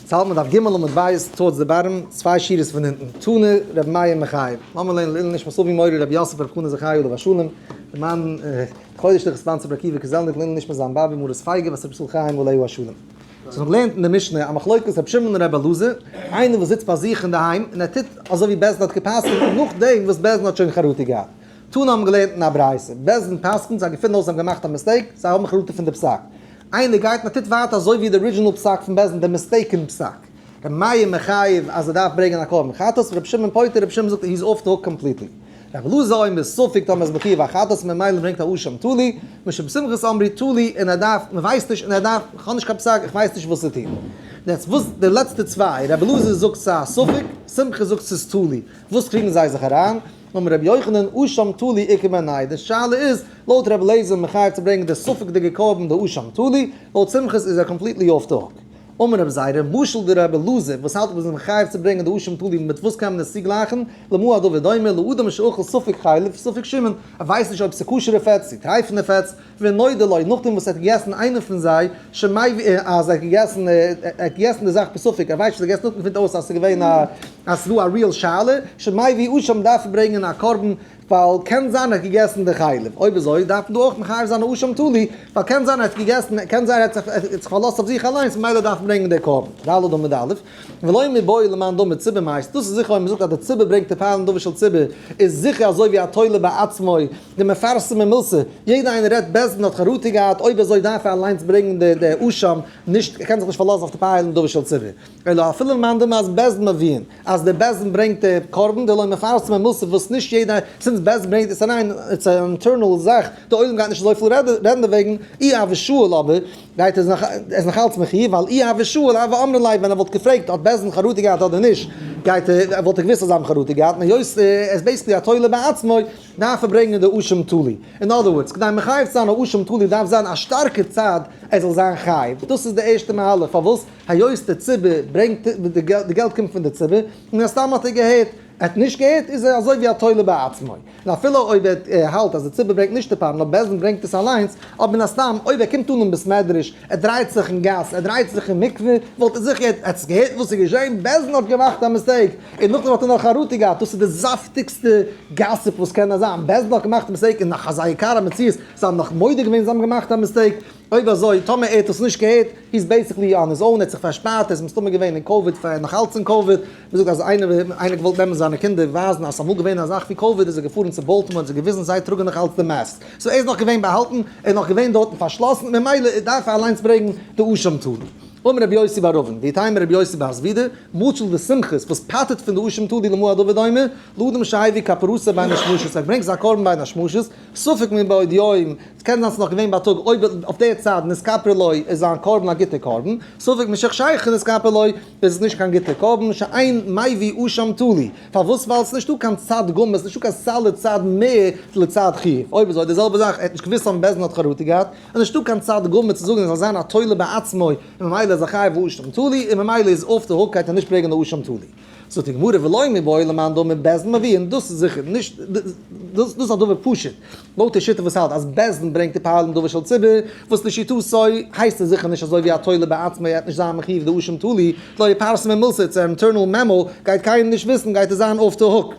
צלמא דף ג' עמוד בית טור ד בארם, צוויי שורות פון אונטן, תנא רבי מאיר מחייב, לאמיר לערנען לעילוי נשמת אבי מורי רבי יוסף רבי חנא זכרי' עליו השלום, למען קודש לכ' ספאנסערד רבי עקיבא קזלניק לעילוי נשמת זיין באבי מרת פייגא בת רבי ישראל חיים עליו השלום. ס'איז נאך געלערנט אין די משנה א מחלוקת רבי שמעון און רבי אלעזר, איינער וואס זיצט פאר זיך אינדערהיים און ער טוט אזוי ווי בעש ט האט גע'פסק'נט נאכדעם וואס בעש ט האט שוין חרטה געהאט. תנא האבן געלערנט אין א ברייתא, בית דין פסק'נט, זיי געפינען אויס זיי האבן געמאכט א מיסטעיק, זיי האבן החלטה פון די פסק. איינער גייט און ער טוט ווייטער אזוי ווי די ארידזשינעל פסק פון בית דין, די מיסטעיקען פסק. ר' מאיר מחייב אז ער דארף ברענגען א קרבן חטאת, ר' שמעון פוטר, ר' שמעון זאגט he's off the hook completely. ר' אלעזר אומר ספק טאמער איז בחיוב א חטאת און ממילא ברענגט א אשם תלי, משום בשמחת אמרי תלי און ער דארף, מען ווייסט נישט און ער דארף, איך האב נישט קיין פסק, איך ווייס נישט וואס צו טון. יעצט וואס די לעצטע צוויי, ר' אלעזר זאגט ס'איז א ספק, שמחה זאגט ס'איז תלי, וואס קריגן זיי זיך אריין? נאמען רבי יוחנן אשם תלי עיקר בעניי, די שאלה איז לויט רבי אליעזר מחייב צו ברענגען די ספק'דיגע קרבן די אשם תלי, לויט שמחה'ס איז ער קאמפליטלי אףף די הוק. אמר רבי זיידא, משל די רבי אלעזר וואס האלט מ'איז מחייב צו ברענגען די אשם תלי מיט וואס קען מען עס צוגלייכן, למה הדבר דומה, לאדם שאכל ספק חלב ספק שמן, ער ווייסט נישט אויב ס'איז כשר'ע פעטס צו טרייפענע פעטס, ונודע לו, נאכדעם וואס ער האט געגעסן איינע פון זיי, שמעי ו, אז ער האט געגעסן, ער האט געגעסן די זאך בספק, ער ווייסט נישט, ער האט געגעסן נאכדעם פונט אויס אז עס איז געווען א, אז עס איז דא א ריעל שאלה, שמעי ו אויב שוין דארף ער ברענגען א קרבן, ווייל קען זיין ער האט געגעסן די חלב, אויב אזוי דארף מען דא אויך מחייב זיין א אשם תלי, ווייל קען זיין ער האט געגעסן, קען זיין ער האט זיך פארלאזט אויף זיך אליינס ממילא דארף ער ברענגען די קרבן, ד א עמוד א. ולא מבואו למען דא מציבור מייסט, דאס איז זיכער אויב מ'זאגט אז דער ציבור ברענגט די פארלן דבר של ציבור, איז זיכער אזוי ווי התולה בעצמו, די מפרסם ממילסה, יעדער איינער רעדט בעת מען האט חרטה געהאט, אויב אזוי דארף ער אליינס ברענגן די די אשם, נישט, ער קען זיך נישט פארלאזן אויף די פארלן דבר של ציבור. אלא אפילו למען דא מייסט בעסט מבין אז דער בעסט מען ברענגט די קרבן די לא מפרסם ממילסה וואס נישט יעדער, סינס בעסט מען ברענגט עס אריין, איטס אן אינטערנעל זאך, די עולם גייט נישט אזויפיל רעדן דערוועגן, אי ה ושאול אבער, גייט עס נאך, ער איז נאך אלץ מחי', ווייל אי הווה שואל הווה אמרין ליה, ווען ער וואלט געפרעגט האט בעז ד חרטה געהאט אדער נישט, גייט ער, וואלט ער געוואוסט אז זיי האבן חרטה געהאט, און היות ער איז בעיסיקלי א תולה בעצמו, דארף ער ברענגען די אשם תלי. אין אדער ווארדס, כדי מחייב צו זיין א אשם תלי דארף זיין א שטארקע צד ער זאל זיין חייב, דאס איז די ערשטע מהלך, פארוואס? היות דער ציבור ברענגט, די געלט קומט פון די ציבור, מן הסתם האט ער געהערט, ער האט נישט געהערט איז ער אזוי ווי א תולה בעצמו, און אפילו אויב ער האלט אז די ציבור ברענגט נישט די פארן נאר בעסד און ברענגט עס אליינס, אויב מן הסתם אויב ער קומט אן אין בית מדרש, ער דרייט זיך אין גאס, ער דרייט זיך אין מקווה, וואלט ער זיכער עטץ געהערט וואס איז געשען, בעסד און האט געמאכט א מיסטעיק, און נאכדעם האט ער נאך חרטה געהאט, דאס איז די זאפטיגסטע גאסיפ וואס קען נאר זיין, בעסד און האט געמאכט א מיסטעיק, און נאך אזא יקר המציאות, זיי האבן נאך מודה געווען זיי האבן געמאכט א מיסטעיק, אויב אזוי טאמער ער האט עס נישט געהערט, הי איז בעיסיקלי אן היז און, ער האט זיך פארשפארט, ער איז מסתמא געווען אין קאוויד פאר ער איז נאך אלץ אין קאוויד, מען זאגט אז איינער איינער געוואלט נעמען זיינע קינדער ווייזן אז ס'אמאל געווען אזאך ווי קאוויד איז ער געפארן צו באלטימאר האט זיי געוויזן זיי טראגן נאך אלץ די מאסק סאו ער איז נאך געווען באהאלטן ער איז נאך געווען דארטן פארשלאסן ממילא דארף ער אליינס ברעגן די אשם טאד אמר רבי יוסי בר אבן ויתאם רבי יוסי בהסבידא מוצל די שמחות וואס פאטעט פון די אשם טאדי למועד אוודאי מ לאדם שהביא כפרוסה ביי משמשות ער ברענגט זיין קרבן ביי די שמשות ספק מבעוד יום, ס'קען זיין ס'איז נאך געווען בייטאג, אויב איז אויף דער צייט נזכפר לו איז זיין קרבן א גוטער קרבן, ספק משך שייכת נזכפר לו איז עס נישט קיין גוטער קרבן, שאין מאי ווי אשם תלי, פארוואס ווייל ס'נישט דא קיין צד ג', ס'נישט דא קיין סל לצד מ' לצד ח, אויב איז אויך די זעלבע זאך, ער האט נישט געוויסט אויב בעסד דין האט חרטה געהאט, איז נישט דא קיין צד ג' צו זאגן ער זאל זיין א תולה בעצמו, און ממילא איז ער חייב אשם תלי, און ממילא איז אויף די הוגקייט און נישט פרעגן די אשם תלי. זאגט די גמרא ולא מי בועל למאן דאמר בעסד מביאין דאס איז זיכער נישט דאס איז א דבר פשוט לויט די שיטה וואס האלט אז בעסד ברענגט די פועלים דבר של ציבור וואס לשיטתו הייסט עס זיכער נישט אזוי ווי א תולה בעצמו ער העט נישט זיין מחיוב די אשים תלי לא יפרסם אין מילסער צו אינטערנעל מעמא גייט קיינער נישט וויסן גייט עס זיין אוף די הוק.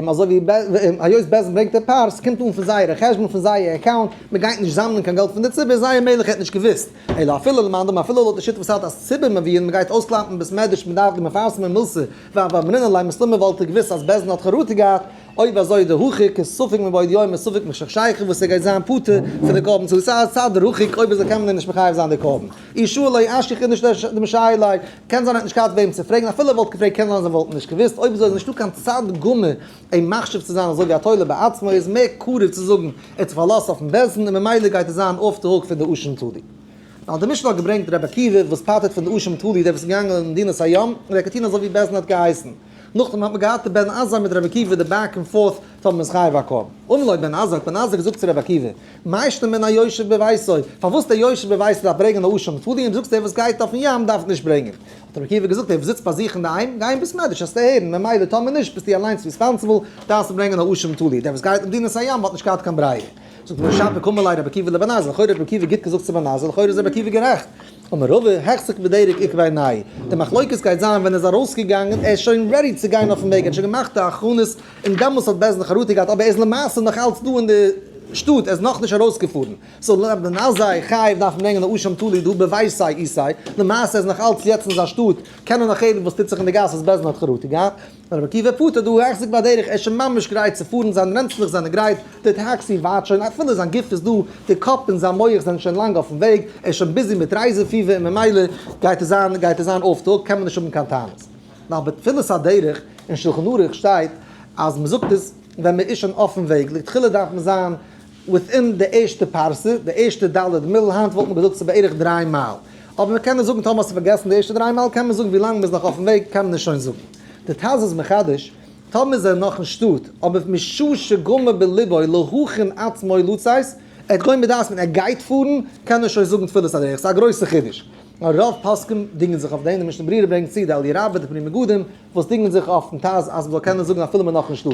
אזוי ווי היות בעסט ברענגט א פאר, ס'קומט אן פון זייערע חשבון פון זייער אקאונט, מען גייט נישט זאמלען קיין געלט פון די ציבור, זייער מלך האט נישט געוויסט, אלא אפילו למאן דאמר אפילו לויט די שיטה וואס האלט אז ציבור מביאים מען גייט אויסקלאפן בית מדרש מען דארף די מפרסמים מלסה ואב המנין אולי מסתמא וואלט ער געוויסט אז בעסט האט חרטה געהאט, אויב אזוי די הוכיח איז ספק מבעוד יום און ספק משכ שייכות וואס ער גייט זיין פטור פון די קרבן צו סא סא דער הוכיח אויב אזוי קען מען אים נישט מחייב זיין די קרבן, אי שאלה אשי כ נישט די משאילי. קען זיין ער האט נישט געהאט וועם צו פרעגן, אפילו ער וואלט געפרעגט קען זיין זיי וואלטן נישט געוואוסט, אויב אזוי איז נישטא קיין צד ג' אים מחשיב צו זיין זאגער התורה בעצמו, ער איז מער קרוב צו זאגן ער האט זיך פארלאזט אויפן בעש ט און ממילא גייט עס זיין אף די הוק פון די אשם תלי. ווייל די משנה האט געברענגט רבי עקיבא וואס פטר'ט פון די אשם תלי דער וואס איז געגאנגען אין מדינת הים און ער קען טון אזוי ווי בעש ט האט געהייסן. נאכדעם האט מען געהאט די בן עזה מיט רבי עקיבא די בעק ענד פארט פאר מען איז חייב א קרבן ומלא בן עזה האט בן עזה געזאגט צו רבי עקיבא מה ישתנה בין היושב בביתו פארוואס דער יושב בביתו דארף ברענגען א אשה מפאר דו אים זאגסט דער וואס גייט אויפן ים דארף נישט ברענגען האט רבי עקיבא געזאגט דער וואס זיצט פאר זיך אינדערהיים גיי אין בית מדרש העסטו הערן ממילא טאמער נישט ביסטו אליינס ריספאנסעבל דארפסטו ברענגען א אשה מפאר דיר דער וואס גייט אין מדינת הים האט נישט געהאט קיין ברירה זאגט הגמ' שב וקום אלי רבי עקיבא לבן עזה לכאורה האט רבי עקיבא גוט געזאגט צו בן עזה לכאורה איז רבי עקיבא גערעכט. אמר רבא, החזק בדרך עקבי נאי, די מחלוקת גייט זיין ווען ער איז ארויסגעגאנגען, ער איז שוין רעדי צו גיין אויפן וועג, ער האט שוין געמאכט די הכנות, און דעמאלס האט בעז ה חרטה געהאט, אבער ער איז למעשה נאך אלץ דא אין די שטאט, ער איז נאכנישט ארויסגעפארן, סאו לענ ד אזי חייב דארף מען ברענגען א אשם תלוי דא בבית סיי אי סיי, למעשה ער איז נאך אלץ יעצט אין זיין שטאט, קען ער נאך הערן וואס טוט זיך אין די גאס וואס בעז ה האט חרטה געהאט. רבי עקיבא פארט אט דא און איך זיץ ביי דרך, ער איז שוין ממש גרייט צו פארן, זיינע רענצלעך זענען גרייט, די טעקסי ווארט שוין, אפילו זיין גוף איז דא, די קאפ און זיין מח זענען שוין לאנג אויפן וועג, ער איז שוין ביזי מיט רייזע פיבער און ממילא גייט עס זיין גייט עס זיין אויף טאג, קען מען נישט האבן קיין טענות. נאר ביי תפילת הדרך אין שלחן ערוך שטייט אז מען זאגט עס ווען מען איז שוין אויפן וועג, לכתחילה דארף מען זיין וויטין די ערשטע פרסה, די ערשטע ד' מיל, היינט וואלט מען געזאגט ס'איז בערך דריי מייל, אבער מען קען נישט זאגן, טאמער האסטו פארגעסן די ערשטע דריי מייל, קען מען זאגן ווי לאנג מ'איז נאך אויפן וועג, קען מען נישט שוין זאגן. די טז איז מחדש, טאמער איז ער נאך אין שטאט, אבער משא שגמר בלבו להכין עצמו לצאת, ער האט געווען בדעת מיין ער גייט פארן, קען ער שוין זאגן תפילת הדרך, ס'איז א גרויסע חידוש. רוב פוסקים דינגען זיך אויף דעם, די משנה ברורה ברענגט צו די אלי' רבה, די פני מגדים, וואס דינגען זיך אויפן טז אז מ'זאל קענען זאגן אפילו מ'איז נאך אין שטאט.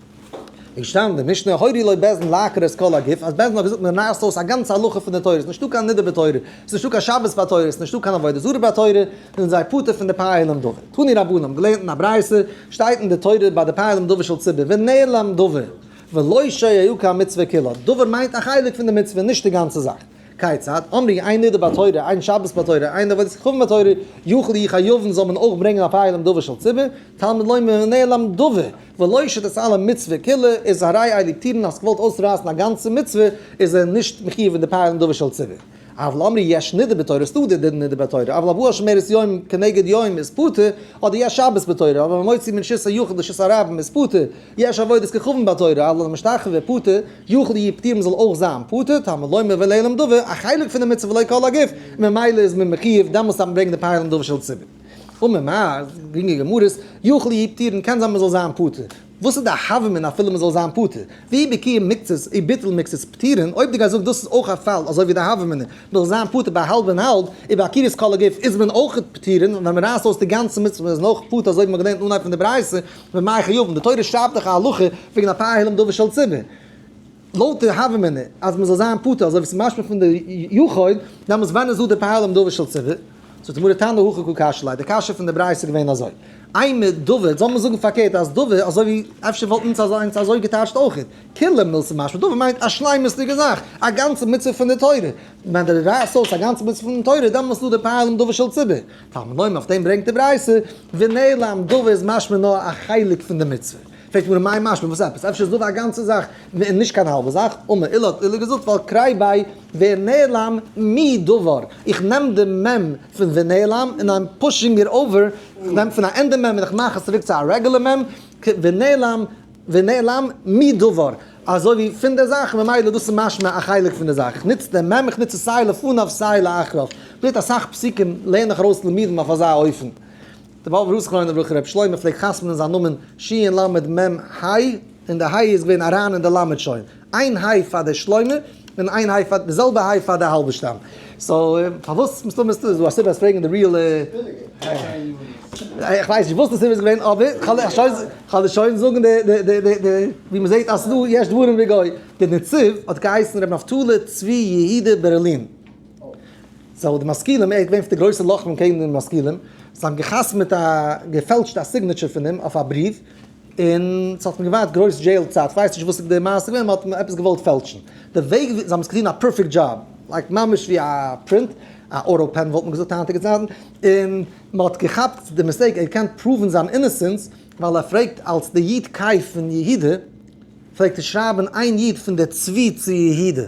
איז געשטאנדען משנה הורי לו בעז ן לעקר את כל הגוף, אז בעז ן האט געזאגט מען רייסט אויס א גאנצע הלכה פון די תורה, ס'איז נישטא קיין נדה בתורה, ס'איז נישטא קיין שבת ביי תורה, ס'איז נישטא קיין עבודה זרה ביי תורה, זענען זיי פטור פון די פאה עליון דבר. תני רבנן, געלערנט אין א ברייתא, שטייט אין די תורה ביי די פאה עליון דבר של ציבור, ונעלם דבר, ולא שיהיו כ א מצוה כולו, דבר מיינט א חלק פון די מצוה, נישט די גאנצע זאך. כיצד? אמרי, איין נדה ביי תורה, איין שבת ביי תורה, איין עבודת כוכבים ביי תורה, יוכלו יחיובן זאל מען אויך ברענגען א פאה עליון דבר של ציבור, תלמוד לומר ונעלם דבר, ולא שתעשה על המצוה כולה, איז הרי אויב די טירן האסט געוואלט אויסרייסן א גאנצע מצוה, איז ער נישט מחיוב אין די פיילן דבר של ציבור. אבל אמרי יש נדר בתורה, איז טאר דער נדר ביי תורה, אבל הבאה שומרת יום כנגד יום איז פטור, אדער יש שבת בתורה, אבל המוציא מן שס היחיד לשס הרבים איז פטור, יש עבודת כוכבים ביי תורה, אבל המשתחווה פטור, יכול יהיה פטור מען זאל אויך זיין פטור, תלמוד לומר ולעלם דבר, א חלק פון די מצוה ולא כל הגוף, ממילא איז מען מחיוב דעמאלס דארף מען ברענגען די פיילן דבר של ציבור. אמר מר. גרינגע גמרות, יכול יהי' פטורין קען זיין מ'זאל זיין פטור. וואס איז די הווא מן אפילו מ'זאל זיין פטור? והיא בקיום מקצת אי ביטול מקצת פטורין, אויב דו גייסט זאגן דאס איז אויך א פאל אזוי ווי די הווא מן מ'זאל זיין פטור ביי האלב און האלב, און ביי עקירת כל הגוף איז מען אויך פטורין, ווען מ'רייסט אויס די גאנצע מצוה איז מען אויך פטור אזוי ווי מ'האט געלערנט אין אנהייב פון די ברייתא, ומאי חיובן, די תורה שרייבט דאך א הלכה וועגן א פאר העלים דבר של ציבור. לויט די הוה אמינא אז מען זאל זיין פטור אזוי ווי עס איז משמע פון די יחוד, דעמאלטס ווען איז דא די פאהל אום דבר של ציבור? זאגט די גמרא תנא הכא כא קש ליה, די קשיא פון די ברייתא איז געווען אזוי, איי מיט דבר, זאל מען זאגן פארקערט אז דבר אזוי ווי אפשר וואלט אונז אזוי אזוי געטייטשט אויכעט, כולו מילתא משמע, דבר מיינט א שלימות'דיגע זאך, א גאנצע מצוה פון די תורה, ווען די רייסט אויס א גאנצע מצוה פון די תורה, דעמאלטס איז דא די פאהל אום דבר של ציבור, תלמוד לומר אויף דעם ברענגט די ברייתא ונעלם, דבר איז משמע נאר א חלק פון די מצוה. פרעגט מיר מאי משמע וואס עפעס? אפשר זאב א גאנצע זאך און נישט קיין האלבע זאך? אמר אילו האט אילו געזאגט ווייל קריי ביי ונעלם מי דבר איך נעם די מ' פון ונעלם און איים פושינג איט אווער איך נעם פון א ענדע מ' און איך מאך עס צוריק צו א רעגולער מ' ונעלם ונעלם מי דבר אזוי ווי פון די זאך ממילא דאס איז משמע א חלק פון די זאך איך נוץ די מ' איך נוץ עס סיי לפניו סיי לאחריו פשוט אסאך פסוקים לערן איך ארויס תלמידים אויף אזא אופן. דער באבוב רב זכרונו לברכה רבי שלמה פלעגט חתמ'נען זיין נאמען ש ל מ ה, און די ה' איז געווען אריין אין די ל' שוין, איין ה' פאר די שלמה, און איין ה' פאר, די זעלבע ה' פאר די האלבערשטאם. סאו פארוואס מסתמא איז דא א סיבה אז פרעגן די ריעלע. איך ווייס נישט וואס די סיבה איז געווען אבער כ'וועל דיר שוין זאגן די די די די די ווי מ'זעט אז ס'דא יש דברים בגוי. דער נציב האט געהייסן רבי נפתלי צבי יהודה ברלין. סאו די משכילים, ער איז געווען פון די גרויסע לוחמים קעגן די משכילים, זיי האבן געחתמעט א געפעלטשט א סיגנעטשער פון אים אויף א בריוו, און ס'האט אים געווארט גרויס דזשעיל צייט, איך ווייס נישט וואס איז די מעשה געווען, מען האט אים עפעס געוואלט פעלטשן, די וועג וויאזוי, זיי האבן עס געטון א פערפעקט דזשאב, לייק ממש ווי א פרינט, א אוטא פען וואלט מען געזאגט היינטיגע צייטן, און מען האט געכאפט די מיסטעיק, ער קען פראוון זיין אינעסענס, ווייל ער פרעגט אלס די יוד קיי פון יהודה, פלעגט ער שרייבן איין יוד פון די צבי צו יהודה.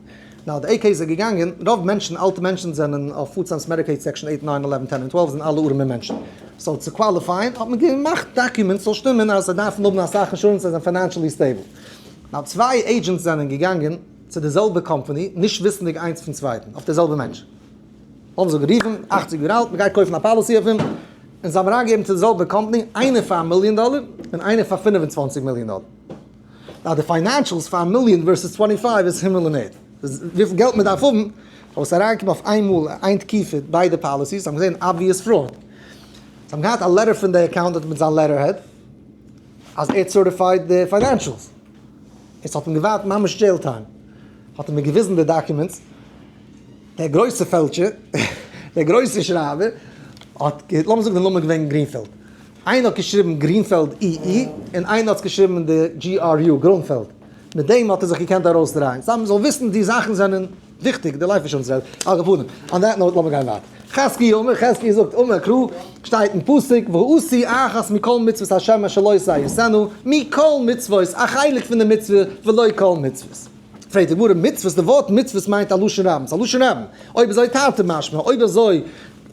נאו די עי קעי איז ער געגאנגען, רוב מענטשן, אלטע מענטשן זענען אויף פוד סטעמפס, מעדיקעיד סעקשאן אייט, ניין, עלעווען, טען, און טוועלף זענען אלע ארעמע מענטשן, סאו צו קוואליפייען האט מען געמאכט דאקומענטס ס'זאל שטימען אז זיי דארפן האבן אסאך אינשורענס זיי זענען פיינענשעלי סטעיבל, נאו צוויי עידזשענטס זענען געגאנגען צו די זעלבע קאמפאני נישט וויסענדיג איינס פון צווייטן אויף די זעלבע מענטש, האבן זיי גערופן, אכציג יאר אלט, מ'גייט קויפן א פאליסי אויף אים, און זיי האבן אריינגעגעבן צו די זעלבע קאמפאני, איינער פאר א מיליאן דאלער, און איינער פאר פֿינף און צוואַנציק מיליאן דאלער. ווייל די פיינענשעלס פאר א מיליאן ווערסעס טווענטי פייוו איז הימל און ערד. וויפיל געלט מען דארף האבן פאר וואס אריינקומען אויף איינמאל אין איין תקופה ביידע פאליסיס האבן געזען אבוויעס פראוד. זיי האבן געהאט א לעטער פון די אקאונטענט מיט זיין לעטערהעד אז ער האט סערטיפייד די פיינענשעלס. עס האט אים געווארט ממש דזשעיל טיים. האט ער מיר געוויזן די דאקומענטס. דער גרויסער פעלטשער, דער גרויסער שרייבער האט, לאמיר זאגן די נאמען איז געווען גרינפעלד. איינער האט געשריבן גרינפעלד אי אי, און איינער האט עס געשריבן די GRU, גרונפעלד. מיט דעם האט ער זיך געקענט ארויסדרייען. סא מ'זאל וויסן די זאכן זענען וויכטיג, די לייף אישורענס רעד. על כל פנים, אן דעט נאוט לאמיר גיין ווייטער. חזקי' אומר, חזקי' זאגט, אמר קרא, שטייט אין פסוק, ועשי אחת מכל מצוות השם אשר לא עשה יעשנו, מכל מצוות, א חלק פון די מצוה, ולא כל מצוות. פרעגט די גמרא, מצוות, די ווארט מצוות מיינט א לשון רבים, ס'איז א לשון רבים. אויב אזוי תרתי משמע, אויב אזוי,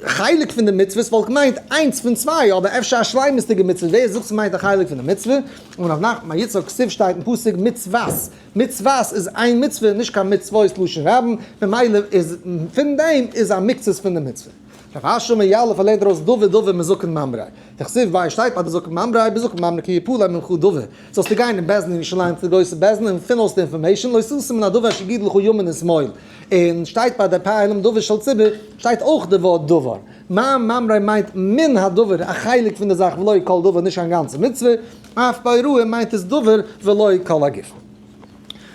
חלק פון די מצוות וואלט געמיינט איינס פון צוויי, אבער אפשר א שלימות'דיגע מצוה, ווער זאגט ס'מיינט א חלק פון די מצוה? און אויף נחמן יצחק כסף שטייט אין פסוק מצוות, מצוות איז איין מצוה, נישט קיין מצוות לשון רבים, ממילא איז פון דעם איז א מקצת פון די מצוה. רב אשר מיאלא פארלערנט דערויס דבר דבר מזקן ממרא, די כסף ביי שטייט אז די זקן ממרא בזקן ממרא כי יפול עליהם מנחה דבר, זאלסטו גיין אין בעסדן אין ירושלים צו די גרויסע בעסדן און פון אויס די אינפארמעישאן לא ישא סם מן הדבר אשר גידל לך ימין און שמאל. און שטייט ביי די פאר עלים דבר של ציבור שטייט אויך די ווארט דבר, מה מאמרי מיינט מן הדבר א חלק פון די זאך ולא כל דבר נישט קיין גאנצע מצוה, אויף ביי רועה מיינט עס דבר ולא כל הגופן.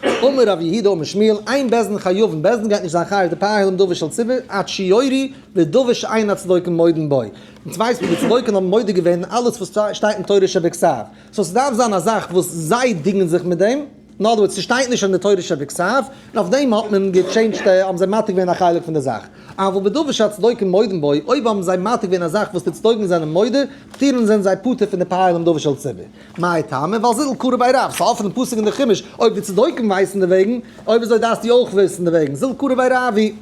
אמר רבי יהודה אמר שמואל אין בית דין חיובן בית דין גייט נישט זיין חייב די פאר עלים דבר של ציבור עד שיורי ודבר שאין הצדוקים מודים בו, אונז ווייסן וואס די צדוקים האבן מודה געווען אין אלעס וואס שטייט אין תורה שבכתב, סאו ס'דארף זיין א זאך וואס זיי דינגען זיך מיט דעם. אין אדער ווארדס, ס'שטייט נישט אין די תורה שבכתב, און אויף דעם האט מען געטשעינדזשט, האבן זיי מעתיק געווען א חלק פון די זאך. אבל בדבר שהצדוקים מודים בו, אויב האבן זיי מעתיק געווען א זאך וואס די צדוקים זענען מודה, פטירין זענען זיי פטור פון די פייער דעם דבר של ציבור. מאי טעמא? ווייל זידל קרא ביי רב, ס'האלט פון דעם פסוק אין די חומש, אויב די צדוקים ווייסן דערוועגן, אויב אזוי דארפסטו אויך וויסן דערוועגן, זידל קרא ביי רב היא.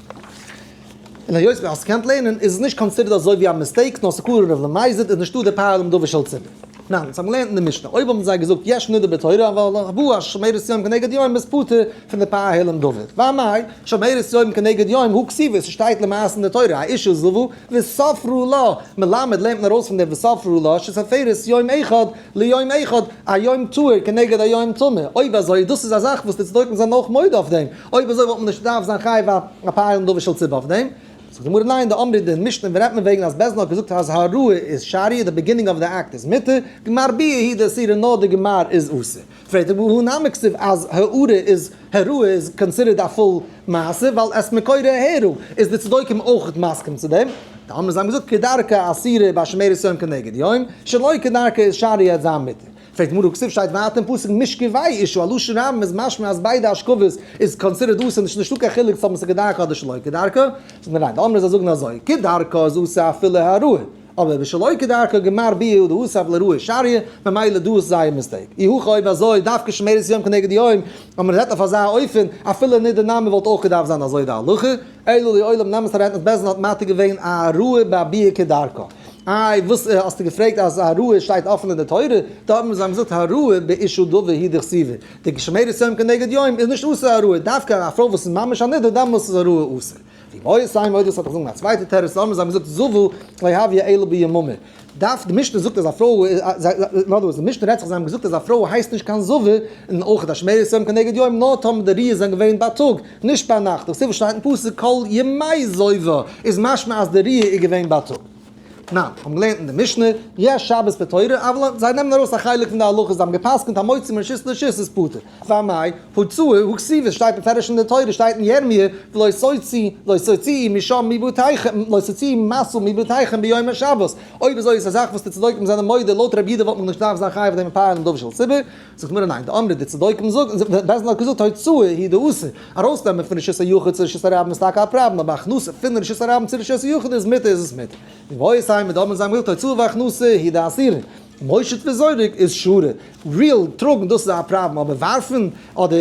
און היות ווי אז ס'קענט לערנען איז עס נישט קאנסידערט אזוי ווי א מיסטעיק נאר ס'קלאר און רב למזיד איז נישטא די פאר דעם דבר של ציבור. ניין, אונז האבן געלערנט אין די משנה אויב האבן זיי געזאגט יש נידה בתורה אבל הבו א שומרת יום כנגד יום איז פטור פון די פאר העלם דבר. וויי מאי שומרת יום כנגד יום הוא כסיווי ס'שטייט למעשה אין די תורה האישה זבו וספרו לה מלמד לערנט מען ארויס פון די וספרו לה שסופרת יום אחד ליום אחד א יום טהור כנגד א יום טמא אויב אזוי דאס איז א זאך וואס די צדוקים זענען אויך מודה אויף דעם אויב אזוי וואלט מען נישט דארף זיין חייב א פאר יום דבר של ציבור אויף דעם. זאגט די גמרא ניין, די אמרי דין משנה ווען רעדט מען וועגן אז בעסד דין האט געזאגט אז הראי' איז שרי, די ביגינינג אוו די אקט איז מותר, גמר ביה היא די אסירה נאר די גמר איז אסור. פרעגט די גמרא הא נמי כסיף אז הערה איז הערה איז קאנסידערד א פול מעשה ווייל עס מקור הערה, איז די צדוקים אויך מסכים צו דעם? די אמרי זיי האבן געזאגט כדרכה אסירה ביי שמירת יום כנגד יום, שלא כדרכה איז שרי העט זיין מותר. פרק מראה כסף שטייט ווייטער אין פסוק מיש כ ויהי איש הוא א לשון רבים איז משמע אז ביידע אשכובות איז קאנסידערט אסור נישט נישטא קיין חילוק צו האבן עס כדרכו אדער שלא כדרכו, זאגט מען ניין די אמרי זיי זאגן אזוי כדרכו איז אסור אפילו העראה אבער ביי שלא כדרכו גמר ביה הוא דאסר אפילו העראה שעריה ממילא דא איז זייער מיסטעיק אי הכא אויב אזוי דווקא שמרית יום כנגד יום אז מען רעדט אויף אזא אופן אפילו ניט די נאמען וואלט אויך געדארפט זיין אזוי די הלכה אילולא עולם נמס הרענטנעס בעסד האט מתיר געווען א העראה ביי ביה כדרכו. איי וואס האסטו געפרעגט אז הראיה שטייט אפען אין די תורה? דא האבן מיר זיי האבן געזאגט הראיה באישו דבר היא דכסיבה, די שומרת יום כנגד יום איז נישט אסור הראיה, דווקא א פרוי וואס איז ממש א נדה דאמאלס איז הראיה אסור. ווי מוהר ש מודה ס'האט געזאגן א צווייטע תירוץ דא האבן מיר זיי האבן געזאגט זוו להביא אלא ביממה דף די משנה זאגט אז א פרוי אין אדער ווארס די משנה רעדט זיך זיי האבן געזאגט אז א פרוי הייסט נישט קיין זוו און אויך א שומרת יום כנגד יום נאר טאמער די ראיות זענען געווען בייטאג נישט ביינאכט, דאס איז וואס שטייט אין פסוק כל ימי זויבער איז משמע אז די ריאה איז געווען בייטאג. ניין, מיר האבן געלערנט אין די משנה, ריאה שבת פטורה, אוו ל, זיי נעמען ארויס א חלק פון די הלכות, זיי האבן געפסקנט המוציא מרשות לרשות איז פטור, ועל מאי הוצאה הוא כסיוות שטייט מפרש אין די תורה שטייט אין ירמיה ולא סוצי' לא סוצי' משם מבתיכם לא סוצי' משא מבתיכם ביום השבת, אויב אזוי איז א זאך וואס די צדוקים זענען מודה, לויט רב יהודה וואלט מען נישט געדארפט זיין חייב אויף דעם מפאר און דוב של ציבור. זאגט הגמרא ניין, דאמרי די צדוקים זאגן, בעסד האט געזאגט הוצאה היא דאסור, ארויסנעמען פון רשות היחיד צו רשות הרבים איז טאקע א פראבלעם, אבער הכנסת פון רשות הרבים צו רשות היחיד איז מותר איז עס מותר. מבואי סייעתא דאמרי זיי האבן געזאגט הוצאה והכנסה היא דאסירין, מושט וזורק איז שורה, ריעל טראגן דאס איז א פראבלעם אבער ווארפן אדער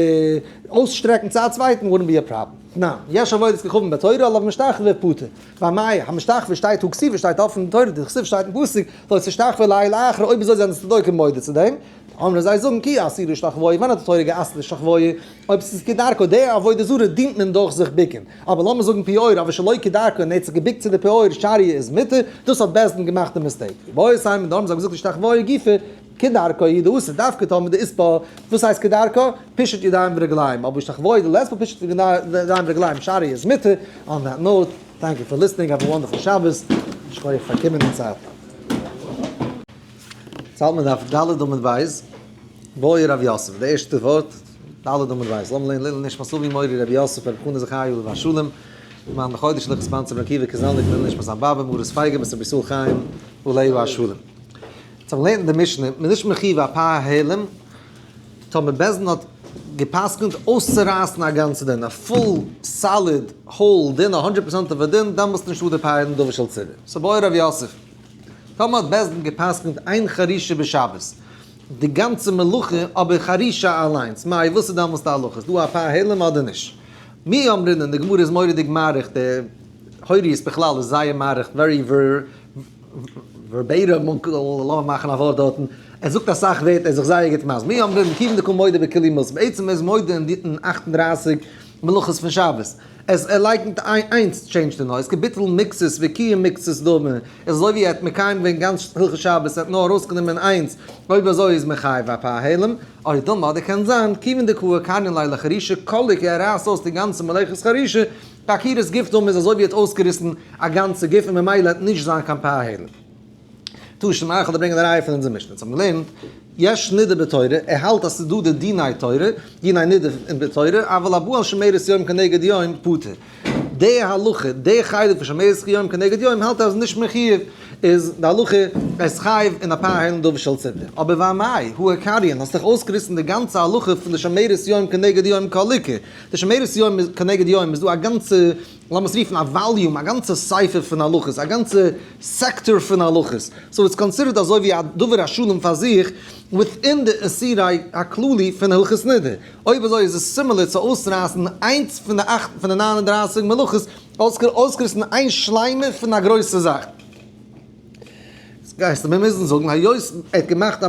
אויסשטרעקן צו א צווייטן וואלט ניט בי א פראבלעם. תנא, יש עבודת כוכבים בתורה עליו משתחווה ופטור. ביי מאי, המשתחווה שטייט הוא כסיפא שטייט אפן אין תורה, די כסיפא שטייט אין פסוק, לא תשתחווה לאל אחר, אויב אזוי זענען די צדוקים מודה צו דעם. אמרו זיי זאגן כי אסור להשתחוה, ווען האט די תורה געאסרט להשתחוה? אויב עס איז כדרכו, די עבודה זרה דינט מען דורך זיך ביקען, אבער לאמיר זאגן פיאור אבער שלא כדרכו און ער האט זיך געביקט צו די פיאור שאריה איז מותר, דאס האט בעש ט געמאכט די מיסטעיק, ובאו עיסיים און דאן האבן זיי געזאגט השתחוה גופא כדרכו איז די אסור דווקא טאמער די איז פ, וואס הייסט כדרכו? פשוט ידיים ורגליים, אבער השתחוה איז די לעס פ פשוט ידיים ורגליים שאריה איז מותר, אן דעט נאוט, טענק יו פאר ליסטענינג, האב א וואנדערפול שבת, שכויעך פאר קומען און צייט. צאלט מען דארף ד' אמות בית, מורי רבי יוסף, די ערשטע ווארט ד' אמות בית, זאל מען לערנען לעילוי נשמת אבי מורי רבי יוסף רבי חנה זכרי' עליו השלום, מיין בחודש לכ' ספאנסערד רבי עקיבא קאזעלניק לעילוי נשמת זיין באבע מרת פייגא בת רבי ישראל חיים עליו השלום. צו מען לערנט די משנה, מען איז נישט מחיוב ע פ העלם, טאמער בעז ד האט געפסקנט אויסצורייסן א גאנץ דין, א פול סאליד האול דין, א הונדרעט פראצענטיגע דין, דאן מוזט נישט אדער פאר העלם דבר של צוה. סא מורי רבי יוסף. טאמער האט בית דין גע'פסק'נט איין חרישה בשבת די גאנצע מלוכה אבער חרישה אליינס מאי וואס איז דאמאלס די הלכה איז דא א פעהלעם אדער נישט מי אמרינן די גמרא איז מוראדיג מאריך די הוריות בכלל איז זייער מאריך ווערי ווערבעיטעם לאמיר מאכן א ווארט דארטן ער זאגט אסאך ווערטער ער איז זיך זייער גוט מסביר מי אמרינן קיווען דקא מודה בכלי מלא בעצם איז מודה אין אַכט און דרײַסיק מלאכות פון שבת. עס ער לייקנט איי איינס טשעינדזש די נויז קעפיטעל מיקסעס וויקיע מיקסעס דא מען איז אזוי ווי ער האט מקיים געווען גאנץ הלכות שבת ער האט נאר ארויס גענומען איינס אויב אזוי איז מען חייב א פאר העלם אוי דא מאדער קען זיין כיוון דקאוה קארנין לילה חרישה קאליק ער רייסט אויס די גאנצע מלאכות חרישה פאר עקירת גוף דא מען איז אזוי ווי ער האט אויסגעריסן א גאנצע גוף און ממילא ער האט נישט זיין קיין פאר העלם. טאר שוין מאנכע דא ברענגען א ראיה פון אונזער משנה, אונז האבן געלערנט, יש נידה בתורה, ער האלט אז ס'איז דא די דיני תורה, דיני נידה אין בתורה, אבל הבא על שמירת יום כנגד יום פטור. די הלכה, די חלק פון שמירת יום כנגד יום האלט ער אז נישט מחיוב, איז די הלכה אז חייב אין אפאר היילן דארף של ציבור. אבער וואי מאי, הוא הקריין, האסט דאך אויסגעריסן די גאנצע הלכה פון די שמירת יום כנגד יום קאליקע. די שמירת יום כנגד יום איז דא א גאנצע. לאמיר עס רופן א וואליום, א גאנצע ספר פון הלכות, א גאנצע סעקטאר פון הלכות, סאו איטס קאנסידערט אזוי ווי א דבר השלם פאר זיך וויטין די איסורי הכללי פון הלכות נדה, אויב אזוי איז עס סימילער צו אויסרייסן איינס פון די אכט פון די ניין און דרייסיג מלאכות, אויסגעריסן איין שלימה פון א גרויסע זאך. גייסטו מיר מוזן זאגן היות ער האט געמאכט א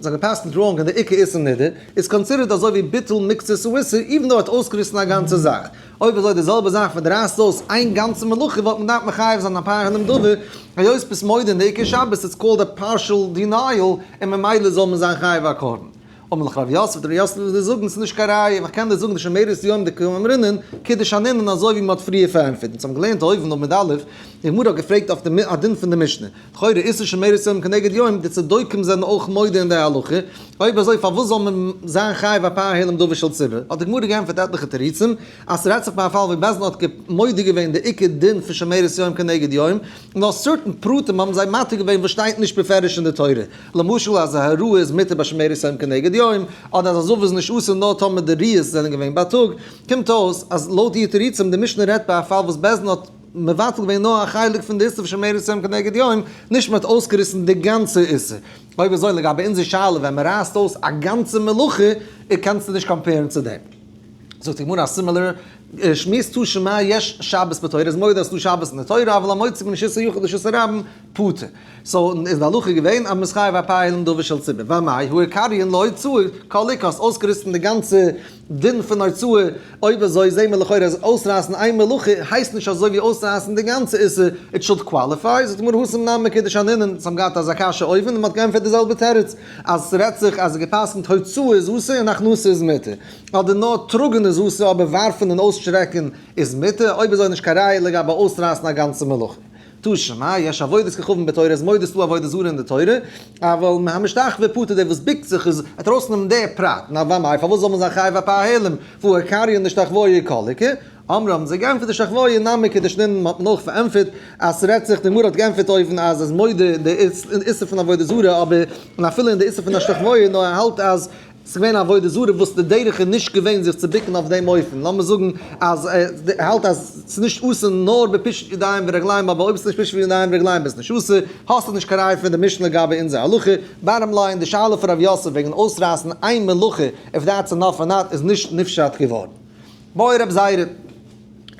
זיינע פאסטן דראונג און די עיקר איסור נידון איז קאנסידערט אזוי ווי ביטול מקצת או איסור איווען דאו ער האט אויסגעריסן א גאנצע זאך. אויב אזוי די זעלבע זאך ווען די רייסט אויס איין גאנצע מלאכה וואלט מען געדארפט מחייב זיין א פארהערנעם דבר היות ביסט מודה אין די עיקר שבת איטס קאלד א פארשעל דינייעל און ממילא זאל מען זיין חייב א קרבן אמר לך רבי יוסף, דער יוסף וואס דו זאגן איז נישט קיין ראיה, ווייל איך קען דיר זאגן די שמערערס יום די כהן אמרינן, קידוש הנינן אזוי ווי מען האט פריער פארענטפערט, אונז האבן געלערנט אויבן אויף מד א, די גמרא האט געפרעגט אויף די א דין פון די משנה, לכאורה איסור שמערערס יום כנגד יום, די צדוקים זענען אויך מודה אין די הלכה, אויב אזוי פארוואס זאל מען זיין חייב ע פ העלם דבר של ציבור, האט די גמרא געענטפערט עטליכע תירוצים, אז ס'רעדט זיך פון א פאל ווי בית דין האט מודה געווען די עיקר דין פון שמערערס יום כנגד יום, נאר סערטען פרטים האבן זיי מתיר געווען וואס שטייט נישט בפירוש אין די תורה. למשל אז א הרואה איז מותר ביי שמירת יום כנגד יום, אדער אז א זאוו איז נישט אסור נאר טאמער די ריאות זענען געווען בייטאג, קומט אויס אז לויט איר תירוצים די משנה רעדט ביי א פאל וואס בית דין האט מבטל געווען נאר א חלק פון די איסור פון שמירת יום כנגד יום, נישט מען האט אויסגעריסן די גאנצע איסור. אויב אזוי לגבי אונזער שאלה ווען מען רייסט אויס א גאנצע מלאכה, קענסטו נישט קאמפערן צו דעם. זאגט די גמרא א סימילער שמועס תו ש מה יש שבת בתורה איז מודה אז ס'דא שבת אין די תורה אבל המוציא מן שסע יחוד לשסע רבים פטור סאו איז די הלכה געווען אז מ'איז חייב א פאה אילן דובר של ציבור והמאי הוא עיקרי אין לא הוצאה כהלכה האסט אויסגעריסן די גאנצע דין פון הוצאה אויב אזוי זעהן מיר לכאורה אז אויסרייסן איין מלאכה הייסט נישט אזוי ווי אויסרייסן די גאנצע איסור איט שולד קוואליפיי זאגט די גמרא הא סמנן מקדש ענינן זיי האבן געהאט אזא קשיא אויבן און מ'האט געענטפערט די זעלבע תירוץ. אז ס'רעדט זיך אז געפסקנט הוצאה איז אסור און הכנסת איז מותר, אדער נאר טראגן איז אסור אבער ווארפן און אויסשרעקן איז מותר, אויב איז אויך נישט קיין ראיה לגבי אויסרייסן א גאנצע מלוכה. תשע א, יש עבודות ככוון בתורה איז מודה ס'דא עבודה זרה אין די תורה, אבל מהמשתחווה פטור דער וואס ביקט זיך איז עט ארויסנעמען די פרט, נארוואמאי פארוואס זאל מען זיין חייב ע פ ההעלם והוא עיקרי און נישט אחווה עיקלקי, אמר האבן זיי געענטפערט די שכבאי נמי כדי שנרן מען האט נאך פארענטפערט אז ס'רעדט זיך די גמרא האט געענטפערט אויבן אז איז מודה אין די איסור פון עבודה זרה אבער און אפילו אין די איסור פון א שכבאי נאר ער האלט אז ס'געווען עבודה זרה וואס די דרך איז נישט געווען זיך צו ביקן אויף דעם אופן לאמיר זאגן אז ער האלט אז ס'איז נישט אסור נאר בפישוט ידיים ורגליים אבער אויב ס'איז נישט פישוט ידיים ורגליים איז נישט אסור האסטו נישט קיין ראיה פון די משנה לגבי אונזער הלכה בארם ליין די שאלה פון ר' יוסף וועגן אויסרייסן איין מלוכה איף דעטס אינאף אר נאט איז נישט נפשט געווארן. בואי רב זייערע,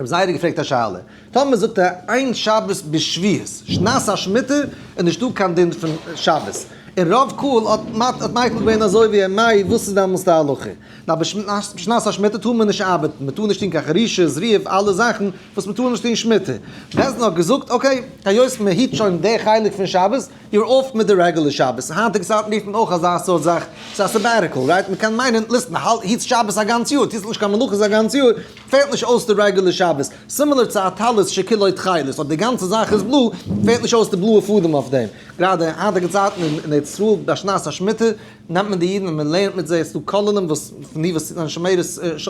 רב זייערע האט געפרעגט א שאלה, טאמער זאגט ער איין שבת בשביעות שנת השמיטה איז נישטא קיין דין פון שבת, און רוב קהל האט האט מייכל געווען אזוי ווי ער, מאי וואס איז דעמאלס די הלכה? ווייל בשנת השמיטה טאר מען נישט ארבעטן, מען טאר נישט טון קיין חרישה, זריעה, אלע זאכן, וואס מען טאר נישט טון שמיטה, בעז ד האט געזאגט אקעי, היות מען היט שוין די חלק פון שבת, יור אף מיט די רעגולער שבת, היינטיגע צייטן רופט מען אויך אזא סארט זאך, ס'איז א סעבעטיקעל, רייט? מען קען מיינען, ליסט מען האלט היטסט שבת א גאנץ יאר, טוסט נישט קיין מלאכות א גאנץ יאר, פעלט נישט אויס די רעגולער שבת, סימילער צו א טלית שכולו תכלת, אויב די גאנצע זאך איז בלוי, פעלט נישט אויס די בלויע פאדעם אויף דעם. גראדע אין היינטיגע צייטן אין ארץ ישראל ביי שנת השמיטה, נעמט מען די אידן און מען לערנט מיט זיי, עס איז דא כוללים וואס פון די וואס זענען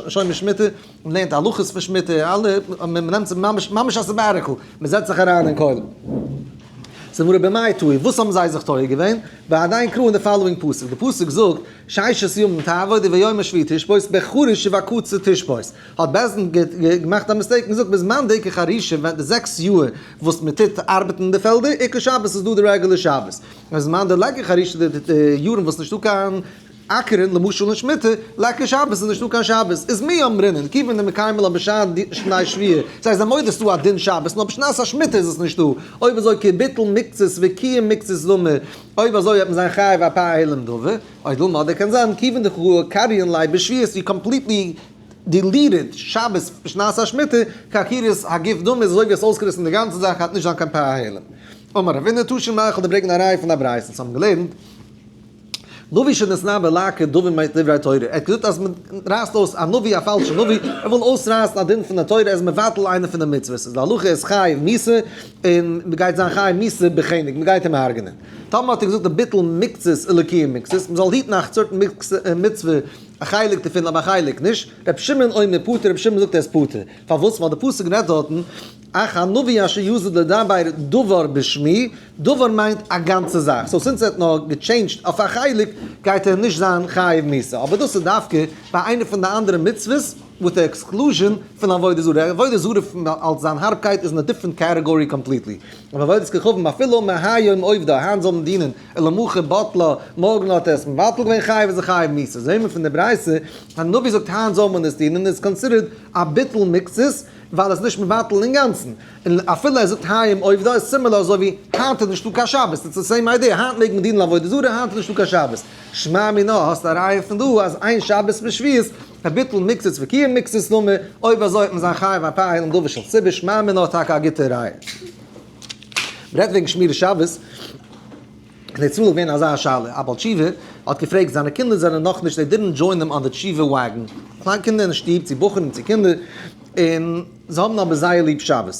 שומרי שמיטה, מען לערנט הלכות פון שמיטה, אלע, מען נעמט זיך ממש, ממש א סעבאטיקעל, מען זעצט זיך אריין אין כולל. ס'איז מראה במאי טוי, וואס האבן זיי זיך טועה געווען? ועדיין קראו אין די פאלאווינג פסוק, די פסוק זאגט, ששת ימים תעבוד וביום השביעי תשבות בחריש ובקצה תשבות, האט בעז ד געמאכט א מיסטעיק און געזאגט בזמן דעיקי חרישה ווען די זעקס יאהר וואס מען טוט ארבעטן אין די פעלדער, עיקר שבת איז דא די רעגולער שבת, און בזמן דעלעקי חרישה די יארן וואס נישטא קיין. אקערן למשל אין שמיטה, לייגט קיין שבת איז נישטא קיין שבת, איז מי אמרינן כיוון דמקיימין לה בשעת די שני שביעי, דאס הייסט זיי מודה ס'דא א דין שבת נאר בשנת השמיטה איז עס נישטא, אויב אזוי כביטול מקצת וקיום מקצת זמר, אויב אזוי וועט מען זיין חייב ע פ העלם דבר, אוי דילמא אדער קען זיין כיוון דכרעה קריין ליה בשביעית ווי קאמפליטלי דיליטעד שבת בשנת השמיטה כעקירת הגוף דומי איז אזוי ווי עס אויסגעריסן די גאנצע זאך האט נישט זיין קיין פ א העלם. אמר רבינא תשי מ איך האב דערברעגן א ראי' פון א ברייתא וואס האבן געלערנט, נביא שנתנה בלק את דברי מיינט דברי התורה, ער האט געזאגט אז מען רייסט אויס א נביא א פאלשע נביא, ער וויל אויסרייסן א דין פון די תורה, ער איז מבטל איינע פון די מצוות, און די הלכה איז חיי מיתה, און מען גייט זיין חיי מיתה בחנק, מען גייט אים הרג'נען. טאמער האט ער געזאגט די ביטול מקצת אלקי מקצת, מען זאל היטן א צארט מצוה, א חלק דערפון אבער א חלק נישט, רבי שמעון אומר פטור, רבי שמעון זאגט ער איז פטור, פארוואס? ווייל די פסוק רעדט דארטן, אך הנביא אשר יסוד לדבר דבר בשמי, דבר מיינט א גאנצע זאך, סאו סינס ער האט נאר געטשעינדזשט אויף א חלק גייט ער נישט זיין חייב מיתה, אבער דאס איז דווקא ביי איינע פון די אנדערע מצוות וויט די עקסקלוזשען פון עבודה זרה, עבודה זרה פון אלס זיין הארבקייט איז אין א דיפרענט קעטעגארי קאמפליטלי, אבער עבודת כוכבים אפילו מהיום עובדא, היינט זאל מען דינען אלא מוכר בטלה, מארגן האט ער עס מבטל געווען חייב איז ער חייב מיתה, זעהן מיר פון די ברייתא אז נביא זאגט היינט זאל מען עס דינען איז קאנסידערט א ביטול מקצת ווייל עס איז נישט מבטל אינגאנצן. און אפילו ער זאגט היום עובדא איז סימילער אזוי ווי היינט איז נישטא קיין שבת, איטס די סעים איידיע, היינט מעג מען דינען לעבודה זרה, היינט איז נישטא קיין שבת. שמע מינה, האסט א ראיה פון דא אז איין שבת מיט שביעית איז ביטול מצות וקיום מצות נאמר, אויב אזוי וועט מען זיין חייב א פאר העלן דבר של ציבור, שמע מינה האט טאקע א גוטע ראיה. מען רעדט וועגן שמירת שבת, און איצט מאל איז געווען אזא שאלה, א בעל תשובה האט געפרעגט, זיינע קינדער זענען נאכנישט, זיי דידענט דזשוין הים אן די תשובה וואגען, קליין קינדער אין שטוב, צו בחורים צו קינדער, און. זיי האבן אבער זייער ליב שבת,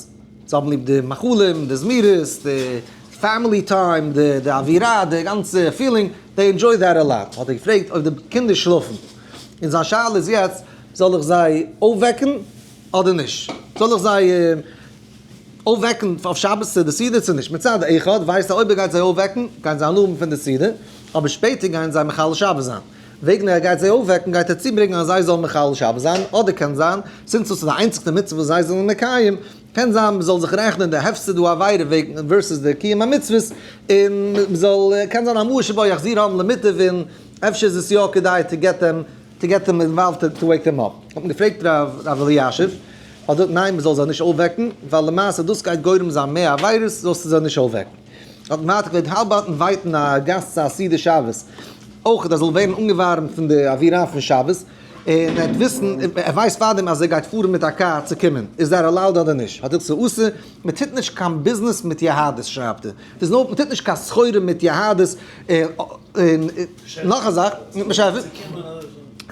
זיי האבן ליב די מאכלים, די זמירות, די פעמילי טיים, די אווירה, די גאנצע פילינג, דעי ענדזשוי דעט א לאט. האט ער געפרעגט אויב די קינדער שלאפן, און זיין שאלה איז יעצט, זאל איך זיי אויפוועקן אדער נישט? זאל איך זיי אויפוועקן אויף שבת צו די סעודה צו נישט? מצד אחד ווייסט ער אויב ער גייט זיי אויפוועקן גייען זיי הנאה האבן פון די סעודה, אבער שפעטער גייען זיי מחלל שבת זיין, וועגן ער גייט זיי אויפוועקן גייט ער צוברענגען אז זיי זאלן מחלל שבת זיין, אדער קען זיין, סינס דאס איז די איינציגסטע מצוה וואס זיי זענען מקיים, קען זיין מען זאל זיך רעכענען די הפסד הוא עבירה וועגן ווערסעס די קיום המצוות, און מען זאל, קען זיין א מאה שבעה יחזיר האבן למיטב און אפשר איז עס יא כדאי טו געט דעם, טו געט דעם אינוואלווד טו וועיק דעם אפ. האט מען געפרעגט ר' אלישיב, האט ער געזאגט ניין מען זאל זיי נישט אויפוועקן, ווייל למעשה דאס גייט גורם זיין מער עבירות זאלסטו זיי נישט אויפוועקן. האט מען ווייטער געלעבט האלב אויפן ווייטן א גאסט צו א סעודה שבת, אויך אז ער זאל ווערן אנגעווארעמט פון די אווירה פון שבת, און ער וועט וויסן, ער ווייסט פארדעם אז ער גייט פארן מיט א קאר צו קומען, איז ער עלאוד אדער נישט, האט ער צו אסור, מען טוט נישט קיין ביזנעס מיט יהדות שרייבט ער, דאס נאר מען טוט נישט קיין סחורה מיט יהדות, און נאך א זאך,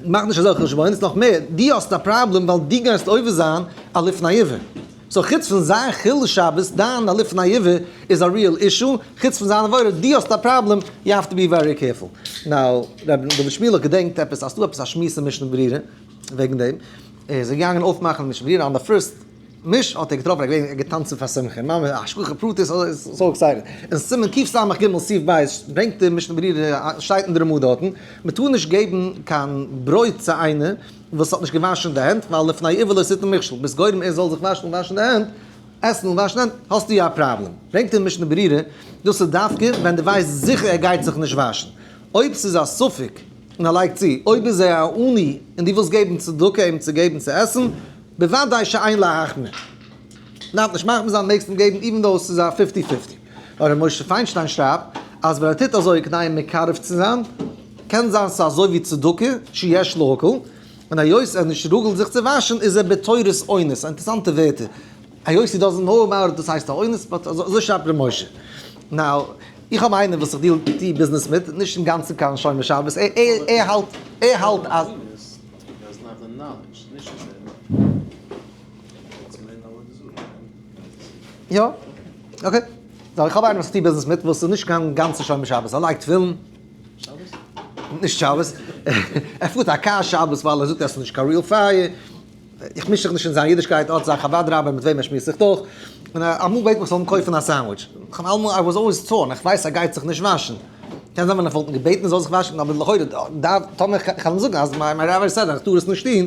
מאך נישט אזעלכע חשבונות, נאך מער, דו האסט א פראבלעם ווייל דו גייסט עובר זיין א לפני עיוור. סאו חוץ פון זיין חילול שבת, דיין א לפני עבר איז א ריעל אישו, חוץ פון זיין עבירה, דו האסט א פראבלעם, יו האוו טו בי ווערי קעירפול. נאו, ר' דוד שמואל האט געדענקט עפעס אז ס'דא עפעס א שמועס אין משנה ברורה וועגן דעם, ער איז געגאנגען אויפמאכן משנה ברורה אן די פירסט משה'ט ער געטראפן ער איז געווען געטאנצן פאר שמחה, ממש א השגחה פרטית, ער איז סאו עקסייטעד. אין סימן קיף סמ ג סיף ב' ברענגט ער משנה ברורה, שטייט אין די רמא דארטן, מ'טאר נישט געבן קיין ברויט צו איינער, וואס האט נישט געוואשן די הענט, ווייל לפני עיוור לא עשית מכשול, ביסט גורם ער זאל זיך וואשן און וואשן די הענט, עסן און וואשן די הענט, האסטו יא א פראבלעם. ברענגט אים משנה ברורה, דאס איז דווקא ווען דו ווייסט זיכער ער גייט זיך נישט וואשן. אויב ס'איז א ספק, און ער לייגט צו, אויב איז ער א עני און דו ווילסט געבן צדקה אים צו געבן צו עסן, בוודאי שאין להחמיר. דארף נישט מחמיר זיין, מעגסט אים געבן איווען דאו ס'איז א פיפטי פיפטי. הרב משה פיינשטיין שרייבט אז ווען ער טוט אזוי כדי מקרב צו זיין, קען זיין ס'איז אזוי ווי צדקה שיש להקל, און היות ער נישט רגל זיך צו וואשן איז ער בתורת אונס, א אינטערסאנטע ווערטער, היות הי דאזענט נאו אבאוט איט דאס הייסט א אונס, באט אזוי שרייבט ר' משה. נאו, איך האב איינעם וואס איך דיעל טי ביזנעס מיט, נישט אינגאנצן קיין שומר שבת, ער האלט אז. יא, אקעי, זאל איך האב איינעם וואס טוט ביזנעס מיט וואס איז נישט קיין גאנצע שומר שבת, ער לייגט תפילין, נישט שבת, ער פארט א קאר שבת ווייל ער זאגט אז עס איז נישט קיין ריעל פייער, איך מיש זיך נישט אין זיין אידישקייט, ער האט זיין חוות רבה מיט וועם ער שמועסט זיך דורך, און אמאל בעט מען איך זאל אים קויפן א סענדוויטש, איך האב אלעמאל, איי וואס אלוועיס טאן, איך ווייס ער גייט זיך נישט וואשן, קען זיין ווען איך וואלט אים געבעטן ער זאל זיך וואשן, אבער לכאורה דארף, טאמער איך קען אים זאגן אז מיין מיין רבי זאגט אז איך טאר עס נישט טון,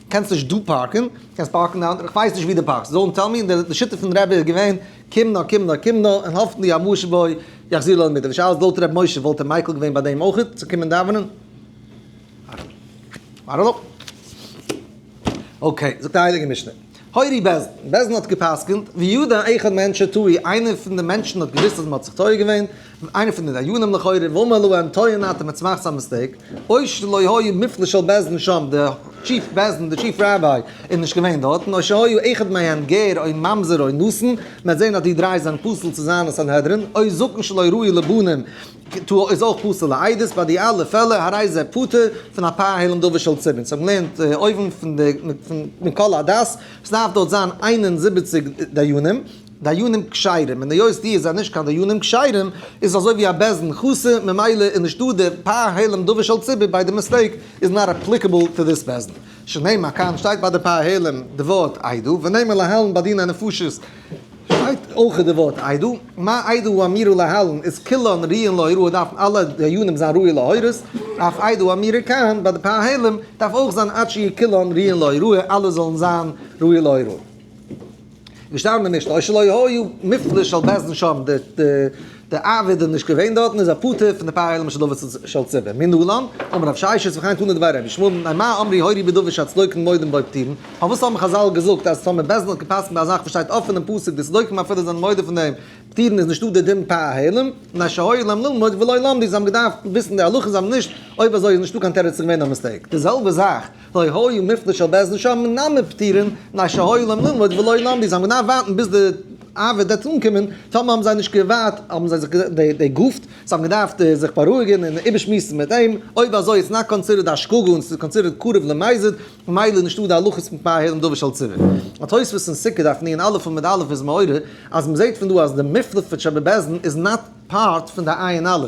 קענסט נישט דא פארקן, קענסט פארקן אין א אנדערע, כ'ווייס נישט ווי דו פארקסט, זאלן טעל מי, די שיטה פון רבי איז געווען, קום נא קום נא קום נא, און האפן די המושב הוי יחזיר לו למיטב, די שאלה איז לויט ר' משה וואלט ער מיקל געווען ביי דעם אויך צו קומען דאווענען? איי דאנט נאו. אקעי, זאגט א הייליגע משנה, הורי בעלזן, בעלזן האט געפסקנט, וידע אחד מענטשא טועה, איינער פון די מענטשן האט געוויסט אז מען האט זיך טועה געווען, איינע פון די דיינים לכאורה, ואומר להם טועה נאט און מען צומאכט סאם מיסטעיק, אוי שלא היה מפלא של בעש ט שם, די טשיף בעש ט, די טשיף ראביי איז נישט געווען דארט, און אוי שהיה אחד מהם גר אוי ממזר אוי נאסן, מען וועט זען אז די דריי זענען פסול צו זיין אין סנהדרין, אוי זקן שלא ראוי לבנים כ ת איז אויך פסול לעדות, ביי די אלע פעלער הרי זה פטור פון א פאה העלם דבר של צבין, זיי האבן געלערנט אויבן פון די מכל הדס, עס דארף דארט זיין איין און זיבעציק דיינים. דיינים כשרים, און היות די זענען נישט קיין דיינים כשרים, איז אזוי ווי א בעסדן חסר, ממילא איז נישטא די פ' העלם דבר של ציבור ביי די מיסטעיק איז נאט אפליקעבל טו דיס בעסדן. שנאמר כאן שטייט ביי די פ' העלם די ווארט עדו, ונאמר להלן ביי דיני נפשות שטייט אויך די ווארט עדו, מה עדו הוא אמירו להלן איז כולן ראיין להוראה דארפן אלע דיינים זיין ראוי להורות, אויף עדו אמירה כאן ביי די פ' העלם דארף אויך זיין עד שיהיו כולן ראיין להוראה אלע זאלן זיין ראוי להוראה. געשטאנען אין משנה, שלא היה מפלס של בית דין שם, די אייוועלט איז נישט געווען דארטן, איז א פטור פון די פאר עולמות של דבר של צבע, מי נלן? אמר רב ששת וכאן תנו לדבר רבי שמואל, מאי מה אמרי הורי בדבר שהצדוקים מודים בו פטירין, פארוואס האבן חזל געזאגט אז טאמער בית דין האט געפסקנט ביי א זאך וואס שטייט אפען אין פסוק די צדוקים אפילו זענען מודה פון דעם פטירין איז נישטא די דין פאר א העלם, מפני שהיה להם ללמוד ולא למדו, זיי האבן געדארפט וויסן די הלכות זיי האבן נישט, אויב אזוי איז נישטא קיין תירוץ ס'איז געווען א מיסטעיק, די זעלבע זאך. לא היו מפנה של בעז ל שם נאמן פטירין מנין שהיו להם ללמוד ולא נאמן בי זיי האבן געדארפט ווארטן ביז די אייוועלט וועט אנקומען טאמער האבן זיי נישט געווארט האבן זיי זיך דערגאפט זיי האבן געדארפט זיך בארואיגען און איבערשמועסן מיט אים אויב אזוי איז נאט קאנסידערד א שגגה און ס'איז קאנסידערד קרוב למזיד ממילא איז נישטא די הלכות פון פאר הערים דבר של ציבור האט תוספות אין סוכה דף נ ע עמוד עמוד א' איז מעורר אז מ'זעהט פון דא אז די מפנה פון שבעבעז ל איז נאט פארט פון די עיין א'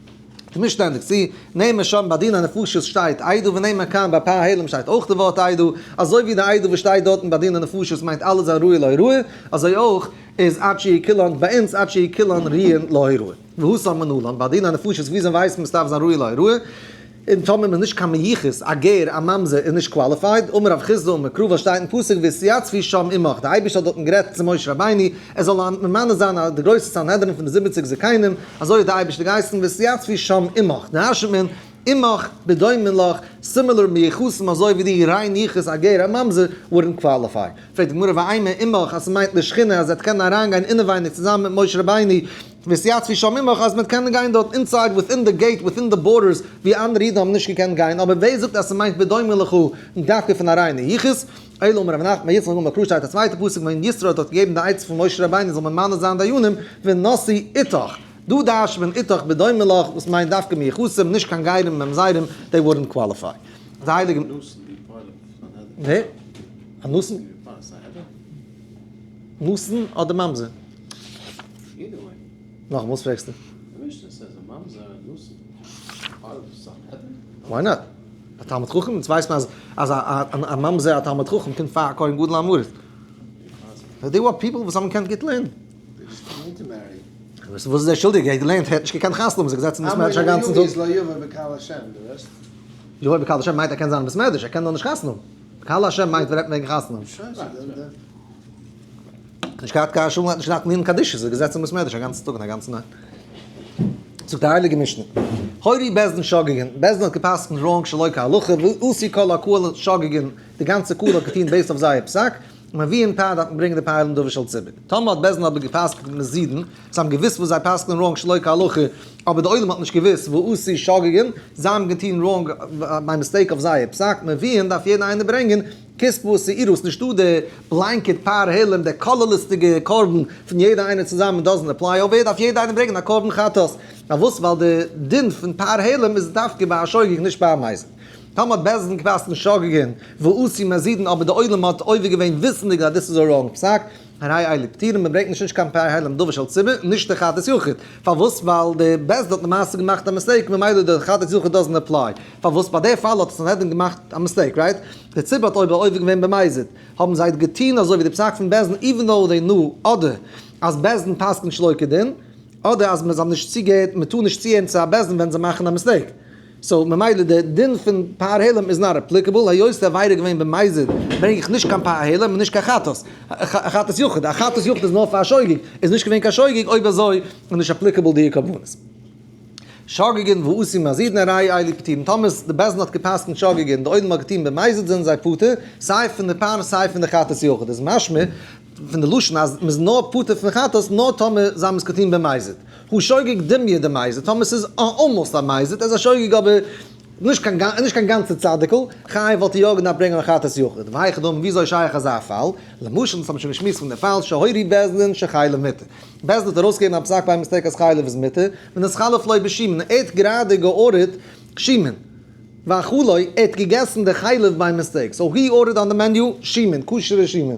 כ'בין שטענדיג צו נעמען שם ביי דין הנפשות שטייט איידא ונאמר כאן ביי פאר העלם שטייט אויך די ווארט איידא, אזוי ווי די איידא וואס שטייט דארטן ביי דין הנפשות מיינט אלעס זיין ראוי להוראה, אזוי אויך איז עד שיהי' קילאן ביי אונז עד שיהי' קילאן ראויין להוראה. והוא שם מנלן ביי דין הנפשות וויאזוי ווייסט מען עס דארף זיין ראוי להוראה? און טאמער מ'איז נישט קיין מיוחס, א גר, א ממזר, איז נישט קוואליפייד, אמר רב חיסדא, מקרובא שטייט אין פסוק והתייצבי שם עמך, די אייבערשטער האט דארטן גערעדט צו משה רבינו, ער זאל א ממנה זיין א די גרויסע סנהדרין פון די זיבעציג זקנים, אזוי האט די אייבערשטער געהייסן והתייצבי שם עמך, דרש'נט מען, עמך, בדומה לך, סימילער, מיוחסים, אזוי ווי די, ריין יחוס, א גר, א ממזר, וואודענט קוואליפיי. פרעגט די גמרא ואימא עמך אז ס'מיינט לשכינה אז ער האט קענען אריינגיין אינעווייניג צוזאמען מיט משה רבינו, וסייעתו של ממך אז מען קען גיין דארט אינסייד וויטין די געיט וויטין די בארדערס ווי אנדערע אידן האבן נישט געקענט גיין אבער ווער זאגט אז ס'מיינט בדומה לך דווקא פון א ריינע יחוס אלא אמר רבי נחמן בר יצחק אמר קרא שטייט א צווייטע פסוק ווען יתרו האט דארט געגעבן די עצה פון משה רבינו זאל ממנה זיין דיינים ונשיא איתך דא דרש'ט מען איתך בדומה לך וואס מיינט דווקא מיחוסים נישט קיין גיירים און ממזרים דעי וואודענט קוואליפיי די הייליגע. אנוסן אדער ממזר? נאך וואס פרעגסטו? וויי נאט? א תלמיד חכם? אונז ווייסט מען אז א ממזר א תלמיד חכם קומט פאר א כהן גדול א מרת. די וואס פיפל וואס האבן געקענט גוט לערנען. וואס איז ער שולדיג? ער האט געלערנט, ער האט נישט געקענט חתונה האבן, איז ער געזעצן אין ביסמעדריש א גאנצן טאג. לא יבא בקהל השם, דו וועסט. יבא בקהל השם מיינט ער קען זיין אין ביסמעדריש, ער קען נאר נישט חתונה האבן. בקהל השם מיינט ווען רעדט מען וועגן חתונה האבן. נישט געהאט קיין שום, האט נישט געדארפט מירן קדיש, זיך געזעצט אין בית מדרש א גאנצן טאג און א גאנצע נאכט. זאגט די הייליגע משנה, הורי בעש ט שגגן, בעש ט האט גע'פסק'נט ראנג שלא כהלכה, ועשי כל הקהל שגגן, די גאנצע קהל האט געטון בעיסד אויף זייער פסק, און מען ווי אין פאר דארף מען ברענגען די פייל אין דבר של ציבור. טאמער האט בעש ט אבער גע'פסק'נט מזידן, זיי האבן געוואוסט וואס זיי פסק'נען ראנג שלא כהלכה, אבער די עולם האט נישט געוואוסט, ועשי שגגן, זיי האבן געטון ראנג, ביי מיסטעיק אויף זייער פסק, מען ווי אין דארף יעדער איינער ברענגען, קעסט וואס איז ער וואס נישטא די בלאנקעט פאר העלם די כללית'דיגע קרבן פון יעדע איינער צוזאמען דאזענער פלאי אויף ווער דארף יעדע איינער ברענגען א קרבן חטאת פארוואס ווייל די דין פון פאר העלם איז דווקא ביי א שוגג נישט ביי א מזיד טאמער האט בית דין געפאסט אין שוגגין ועשי מזידין אבער די עולם האט עובר געווען וויסענדיג אז דאס איז א ראנג פסק הרי אלה פטירין מען ברענגט נישט נישט קיין פאר העלם דבר של ציבור און נישט די חטאת יחיד פארוואס ווייל די בית דין האט למעשה געמאכט א מיסטעיק ממילא די חטאת יחיד דאזענער פלאי. פארוואס ביי די פאל האט עס סנהדרין געמאכט א מיסטעיק, רייט? די ציבור האט אויב עובר געווען במזיד, האבן זיי געטוהן אזוי ווי די פסק פון בעש ט איווען דאו זיי נאו אדער אז בעש ט פסק'נט שלא כדין, אדער אז מ'זיי האבן נישט צוגעהערט, מ'טאר נישט צוהערן צו א בעש ט ווען זיי מאכן א מיסטעיק. סאו ממילא די דין פון פאר העלם איז נאט עפליקעבל, היות די עבירה איז געווען במזיד ברענג איך נישט קיין פאר העלם און נישט קיין חטאת חטאת יחיד, א חטאת יחיד איז נאר פאר שוגג, איז נישט געווען קיין שוגג, אויב אזוי איז נישט עפליקעבל דיע קרבנות. שגגען ועושים מזיד נעריי איילי פטירין, טאמער די בית דין האט געפסקנט שגגען און די עולם האט געטון במזיד זענען זיי פטור סיי פון די פאן סיי פון די חטאת יחיד, איז משמע פון די לשון אז מ'איז נאר פטור פון חטאת נאר טאמער זיי האבן עס געטון במזיד, הוא שוגג דמיה די מזיד, טאמער ס'איז אלמאוסט א מזיד, ער איז א שוגג אבער נישט קיין גאנ נישט קיין גאנצע צדיק'ל, חייב וואלט ער יא געדארפט ברענגען א חטאת יחיד, והיכי דמי וויאזוי שייך אזא פאל, למשל אונז האבן שוין געשמועסט פון די פאל שהוריד בית דין שחי למיתה. בית דין וועט ארויסגעבן א פסק ביי מיסטעיק אז חלב איז מותר, ווען עס חלף לוי' בשמן, ער האט גראדע געארדערט שמן, ואכלו, ער האט געגעסן די חלב ביי מיסטעיק, סאו הי ארדערט אן די מעניו שמן, כשר'ע שמן.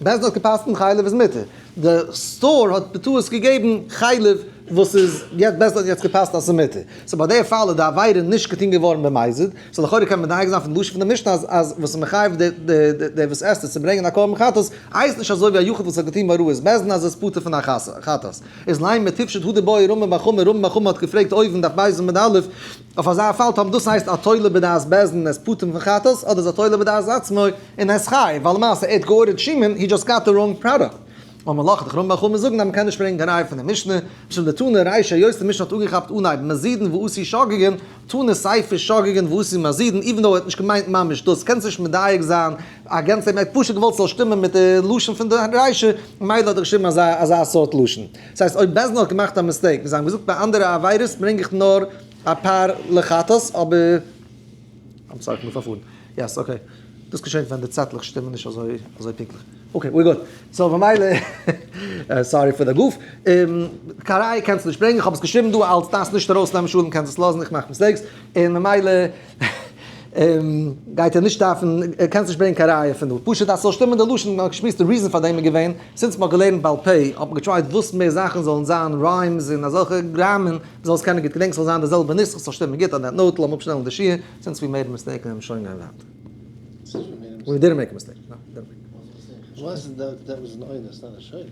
בית דין האט געפסקנט חלב איז מותר, די סטאר האט בטעות געגעבן חלב וואס איז, בית דין האט יעצט געפסקנט אז ס'איז מותר, סאו ביי די פאל איז די עבירה נישט געטון געווארן במזיד, סאו לכאורה קען מען מדייק זיין פון די לשון פון די משנה אז אז וואס איז מחייב די די די וואס עסט עס צו ברענגען א קרבן חטאת הייסט נישט אזוי ווי א יחיד וואס האט געטון מראות בעסטן אז ער איז פטור פון א חטאת איז ליין מען טיפשט הודה באי רמב ם חמור רמב ם חמור האט געפרעגט אויבן דף בית עמוד א' אויף אזא פאל טאמער דאס הייסט א תולה בדעת בעסטן ער איז פטור פון חטאת אדער איז א תולה בדעת עצמו און ער איז חייב ווייל למעשה ער האט גע'אור'ט שמעון הי דזשאסט גאט די ראנג פראדאקט. און מען לאכט דיך ארום ביי חמץ זאגן אז מען קען נישט ברענגן א ראיה פון די משנה, משום די תנא ריישא היות די משנה האט אנגעכאפט אנהייב מזידין ועושי שגגין, תנא סייפי שגגין ועושי מזידין, איווען דאו ער האט נישט געמיינט ממש דאס, קענסט נישט מדייק זיין א גענצליך, מען האט פשוט געוואלט ס'זאל שטימען מיט די לשון פון די ריישא, ממילא האט ער געשריבן אזא אזא סארט לשון. דאס הייסט אויב בעסד אין האט געמאכט א מיסטעיק, ווי זיי האבן געזאגט ביי אנדערע עבירות ברענג איך נאר אפאר לחטות, אבער. איים סארי כ'בין פארפארן. יעס אקעי. דאס געשענט ווען די צעטלעך שטימען נישט אזוי אזוי פונקטליך. אקעי ווער גוד. סאו במילא סארי פאר די גוף. קאריי קענסט נישט ברענגען. כ'האב עס געשריבן דא אלס דארפסט נישט ארויסנעמען שלום קענסט עס לאזן איך מאך מיסטעיקס. און ממילא גייט ער נישט דארפן קענסט נישט ברענגען קיין ראיה פון דא. פשוט אז ס'זאל שטימען די לשון. נאר כ'שמועס די ריזען פאר דעם איז געווען, זינט מ'האט געלערנט בעל פה האט מען געטרייט וואס מער זאכן זאלן זיין ריימס און אזעלכע גראמען. זאלסט קענען גוט געדענקן ס'זאל זיין די זעלבע נוסח ס'זאל שטימען גוט אט דעט נאוט לאמיר אפשטעלן די שיעור זינט ס'ווי מער מיסטעיקן וועלמיר שוין גיין ווייטער. ווי מער מיסטעיקן. וואס איז דער וואס איז נאוט איז נאר א שוגע?